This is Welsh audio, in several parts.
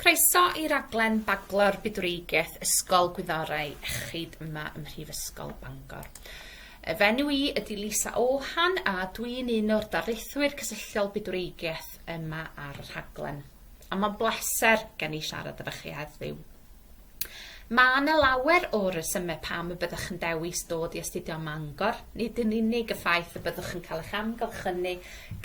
Croeso i raglen Baglo'r Bydwreigiaeth Ysgol Gwyddorau Iechyd yma ym Mhrifysgol Bangor. Y fenyw i ydy Lisa Ohan a dwi'n un o'r darlithwyr cysylltiol bydwreigiaeth yma ar y rhaglen. A mae'n bleser gen i siarad efo chi heddiw. Mae 'na lawer o resymau pam y byddwch yn dewis dod i astudio ym Mangor, nid yn unig y ffaith y byddwch yn cael eich amgylchynu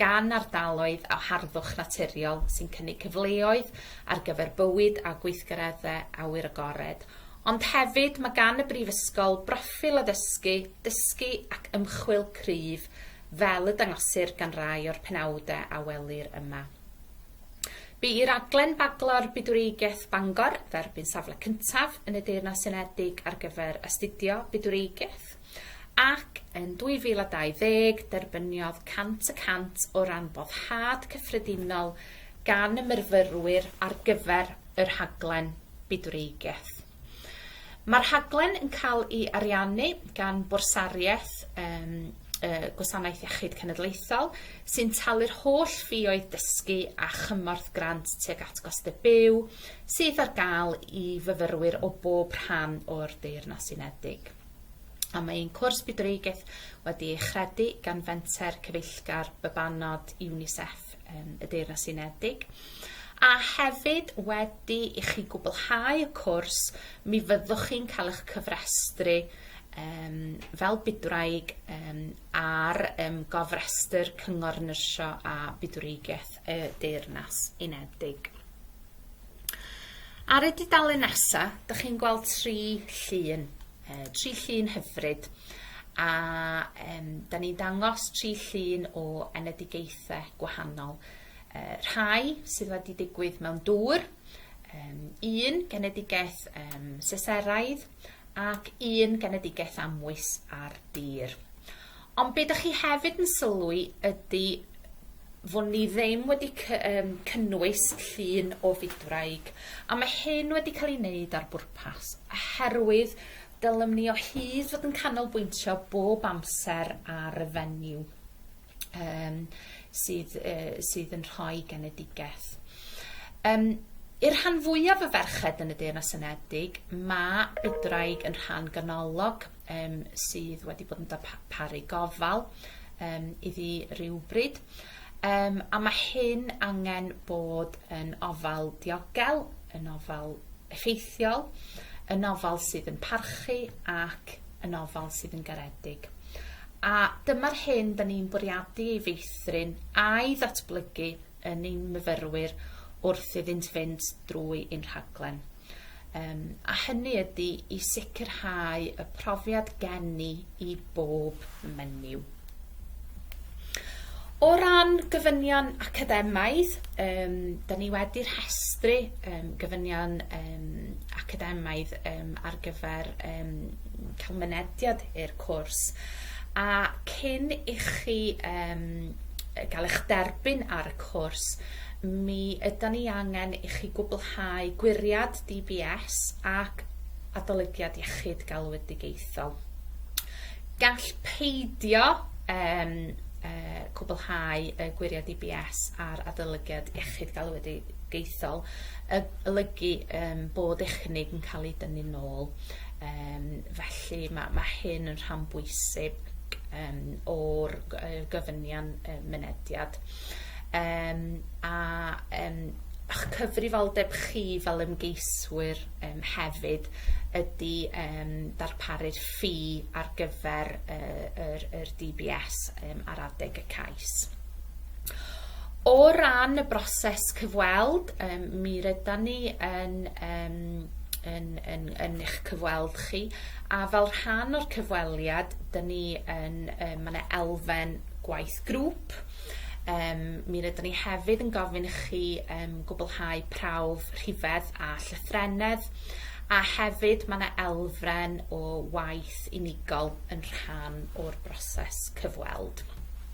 gan ardaloedd o harddwch naturiol sy'n cynnig cyfleoedd ar gyfer bywyd a gweithgareddau awyr agored, ond hefyd mae gan y Brifysgol broffil addysgu, dysgu ac ymchwil cryf, fel y dangosir gan rai o'r penawdau a welir yma. Bu i raglen Baglor Bydwreigiaeth Bangor dderbyn safle cyntaf yn y Deyrnas Unedig ar gyfer astudio Bydwreigiaeth ac yn 2020 derbyniodd 100 y cant o ran boddhad cyffredinol gan y myrfyrwyr ar gyfer y rhaglen Bydwreigiaeth. Mae'r rhaglen yn cael ei ariannu gan Bwrsariaeth um, y Gwasanaeth Iechyd Cenedlaethol, sy'n talu'r holl ffioedd dysgu a chymorth grant tuag at gostau byw sydd ar gael i fyfyrwyr o bob rhan o'r Deyrnas Unedig. A mae ein cwrs bydwreigaeth wedi ei chredu gan fenter cyfeillgar bybanod UNICEF. yn y Deyrnas Unedig. A hefyd, wedi i chi gwblhau y cwrs, mi fyddwch chi'n cael eich cyfrestru um, fel bydwraig um, ar um, gofrestr Cyngor Nyrsio a Bydwreigiaeth y Deyrnas Unedig. Ar y dudalen nesaf, dych chi'n gweld tri llun. uh, tri llun hyfryd a um, da ni'n dangos tri llun o enedigaethau gwahanol. Uh, rhai sydd wedi digwydd mewn dŵr, um, un genedigaeth um, seseraidd ac un genedigaeth amwys ar dir. Ond be' 'dach chi hefyd yn sylwi ydi fo' ni ddim wedi cy- yym cynnwys llun o fydwraig, a ma' hyn wedi ca'l 'i neud ar bwrpas, oherwydd dylem ni o hyd fod yn canolbwyntio bob amser ar y fenyw yym sydd yy sydd yn rhoi genedigeth. Yym i'r rhan fwyaf o ferched yn y Deyrnas Unedig, ma' bydwraig yn rhan ganolog um, sydd wedi bod yn darparu gofal um, iddi rhywbryd. Um, a mae hyn angen bod yn ofal diogel, yn ofal effeithiol, yn ofal sydd yn parchu ac yn ofal sydd yn garedig. A dyma'r hyn da ni'n bwriadu ei feithrin a'i ddatblygu yn ein myfyrwyr wrth iddynt fynd drwy ein rhaglen. Um, a hynny ydy i sicrhau y profiad geni i bob menyw. O ran gofynion academaidd, um, da ni wedi rhestru um, gofynion um, academaidd um, ar gyfer um, cael mynediad i'r cwrs. A cyn i chi um, gael eich derbyn ar y cwrs, mi yda ni angen i chi gwblhau gwiriad DBS ac adolygiad iechyd galwedigaethol. Gall peidio um, uh, cwblhau y gwiriad DBS a'r adolygiad iechyd galwedigaethol y, olygu um, bod eich cynnig yn cael ei dynnu'n ôl. Yym, felly mae, mae hyn yn rhan bwysig um, o'r gyfynion um, mynediad. Um, a um, eich cyfrifoldeb chi fel ymgeiswyr um, hefyd ydy um, darparu'r ffi ar gyfer uh, yr, yr DBS um, ar adeg y cais. O ran y broses cyfweld yym mi rydan ni yn yym yn yn yn eich cyfweld chi a fel rhan o'r cyfweliad 'dyn ni yn yym ma' 'na elfen gwaith grŵp yym mi rydan ni hefyd yn gofyn i chi yym gwblhau prawf rhifedd a llythrennedd a hefyd ma' 'na elfen o waith unigol yn rhan o'r broses cyfweld.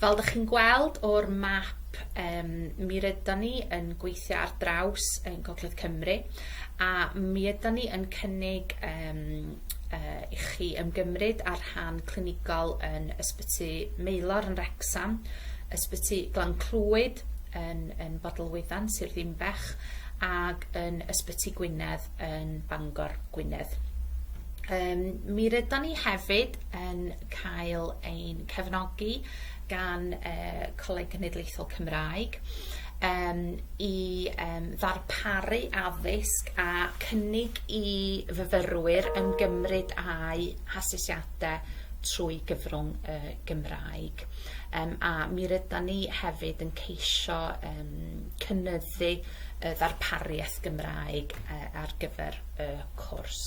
Fel dych chi'n gweld o'r map yym mi rydan ni yn gweithio ar draws yn Gogledd Cymru a mi ydan ni yn cynnig yym yy i chi ymgymryd â'r rhan clinigol yn Ysbyty Maelor yn Wrecsam, Ysbyty Glan Clwyd yn yn Bodelwyddan, Sir Ddinbych ag yn Ysbyty Gwynedd yn Bangor, Gwynedd. Yym mi rydan ni hefyd yn cael ein cefnogi gan uh, Coleg Cenedlaethol Cymraeg um, i um, ddarparu addysg a cynnig i fyfyrwyr ymgymryd â'i hasesiadau trwy gyfrwng y Gymraeg. Um, a mi rydan ni hefyd yn ceisio um, cynnyddu y ddarpariaeth Gymraeg uh, ar gyfer y cwrs.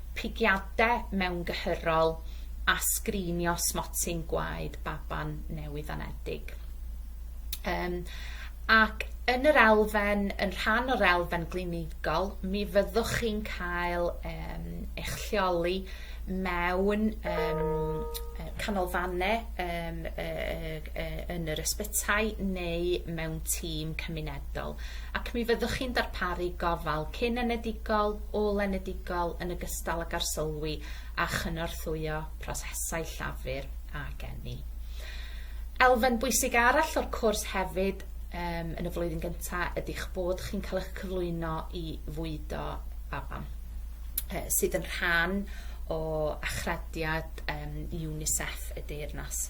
pigiadau mewngyhyrol a sgrinio smotyn gwaed baban newydd-anedig. Um, ac yn yr elfen, yn rhan o'r elfen glinigol, mi fyddwch chi'n cael um, eich lleoli mewn um, canolfannau um, uh, uh, yn yr ysbytai neu mewn tîm cymunedol. Ac mi fyddwch chi'n darparu gofal cyn enedigol, ôl-enedigol yn ogystal ag arsylwi a chynorthwyo prosesau llafur a geni. Elfen bwysig arall o'r cwrs hefyd um, yn y flwyddyn gyntaf ydych bod chi'n cael eich cyflwyno i fwydo baban, uh, sydd yn rhan o achrediad um, UNICEF y deyrnas.